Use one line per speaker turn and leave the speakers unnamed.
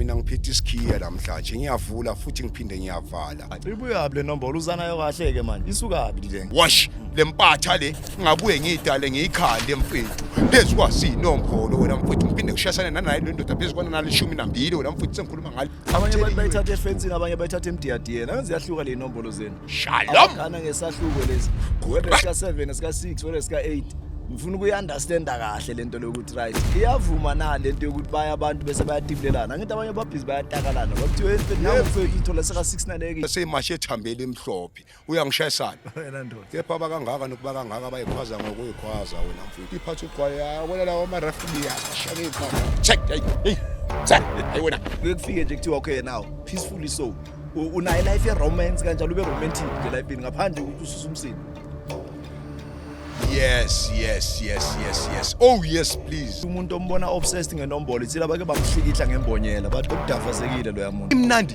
mina ngiphethe isikhiya namhlanje ngiyavula futhi ngiphinde ngiyavala ibuyaphi le nombolo
uzanayo kahle-ke manje isukaphi le wash le mpatha
le ngabuye ngiyidale ngiyikhande mfethu phezu kwasiyinombolo wena mfethu ngiphinde ngishayisane nanayo le ndoda phezu kwananalishumi nambili wena mfethu sengikhuluma ngale abanye abantu bayithatha
efensini abanye bayithatha emdiyadiyeni angazi yahluka le inombolo zenu shalom kana
ngesahluko
lezi whether sika 7 sika 6 whether sika 8 ngifuna ukuyi-understanda kahle le nto lokuthi right iyavuma na le nto yokuthi baya abantu bese bayatibulelana angithi abanye babhizi bayatakalana bakuthiwa entweni nangokwethu ithola seka-six naleke seyimashe ethambele
emhlophe uyangishayisana wena ndoda kepha
abakangaka nokuba
kangaka bayikhwaza ngokuyikhwaza wena mfowethu iphatha ugwaye wena lawo amaref liyashaka ikhwaza check hey hey check hey wena kuyekufike nje kuthiwa okay
now peacefully so U- unayo life romance kanjalo ube romantic nje life ngaphandle ukuthi ususa umsini yes
yes yes yes yes oh yes please umuntu ombona obsessed
ngenombolo ithile abake bamhlikihla ngembonyela bathi ukudafazekile loya muntu imnandi